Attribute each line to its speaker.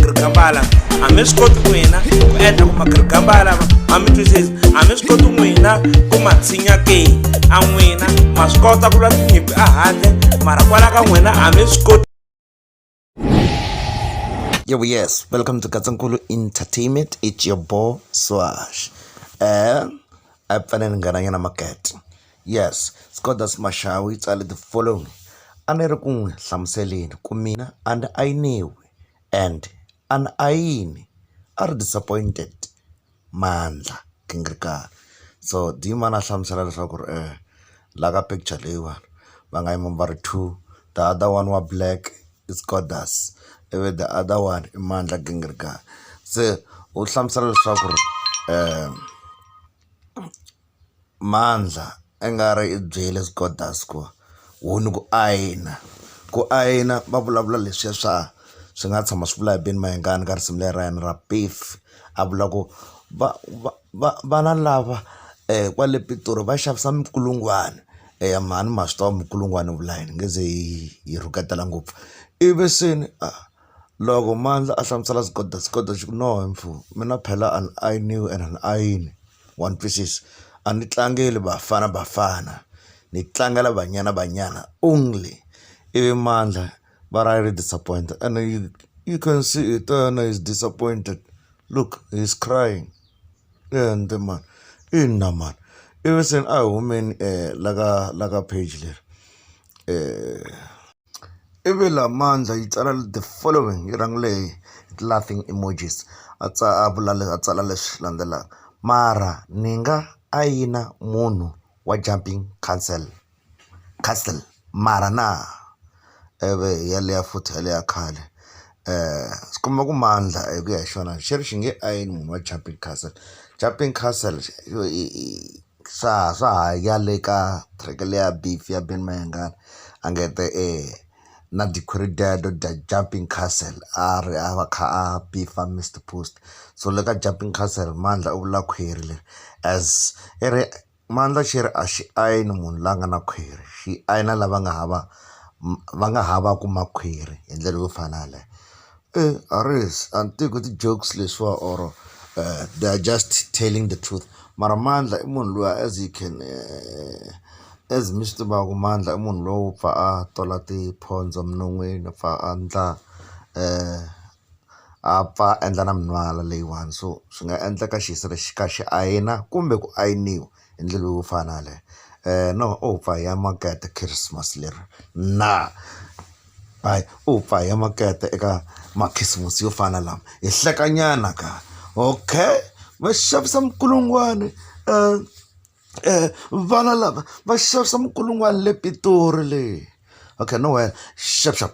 Speaker 1: magirigambala a mi swi koti n'wina ku endla ku magirigambala a mi twisisi a mi swi koti n'wina ku ma tshinya ke a n'wina ma swi kota ku lwa tinyimpi a handle mara kwala ka n'wina a mi swi koti Yo, yes, welcome to Katsankulu Entertainment. It's your boy Swash. Uh, I fanele ni nghena nyana market. Yes, Skoda Smashawi tsale the following. A ni ri ku n'wi hlamuseleni ku mina and I knew and a ni ayini a ri disappointed mandla gingirikani so dimani a hlamusela leswaku ri la ka picture leyiwani va nga yima va ri two the other one wa black i Scodas ivi the other one i Mandla gingirikani se u hlamusela leswaku ri . Mandla a nga ri i byele Scodus ku ho ni ku ayina ku ayina va vulavula leswiya swa swi nga tshama swi vula hi Ben Mayengani ka risimu leri ra yena ra Piff a vula ku va va va vana lava kwale Pitori va xavisa minkulungwana eya mhani ma swi tiva minkulungwana yi vula yini nge ze yi rhuketela ngopfu ivi se ni . Loko mandla a hlamusela Zgoda, Zgoda xi ku, No mfo, mina phela an I knew and an I in one pieces. A ni tlangeli Bafana Bafana, ni tlangela Banyana Banyana only. Ivi mandla va ra ri disappointed ene you you can see hi ta yena he's disappointed, look he's crying. Ende mhani ina mhani. Ivi se a hi humeni la ka la ka page leri . I ve la mandza yi tsala the following yi rhangile hi ti-laughing emojis a a vula a tsala leswi landzelaka, mara ni nga a yina munhu wa jumping council castle mara na i vi hi yaliya futhi hi yaliya ya khale swi komba ku mandla hi ku ya hi xona xi ri xi nge i yini munhu wa jumping castle, jumping castle yo i i. swa ha swa ha ya le ka track leya beef ya Ben Mayengani a nge te e na jumping castle a ri a va kha a beef Mister Post so le ka jumping castle mandla u vula khwiri leri as i ri mandla xi ri a xi ayini munhu la nga na khwiri xi ayina lava nga hava va nga havaku makhwiri hi ndlela yo fana yaleyo. a ri a ni tivi ku i ti-jokes leswiwa or they are just telling the truth mara Mandla i munhu loyi as you can as mi swi tivaka Mandla i munhu lowo pfa a tola tiphondzo minon'wini a pfa a endla a pfa a endla na minwala leyiwani so swi nga endleka xi ka xi ayina kumbe ku ayiniwa. hi ndlela yo fana na yaleyo no u pfa hi ya makete khisimusi leri na hayi u pfa hi ya makete eka makhisimusi yo fana na lama hi hlekanyana ka okay va xavisa minkulungwane vana lava va xavisa minkulungwane le Pitori le okay no wena xavushavu.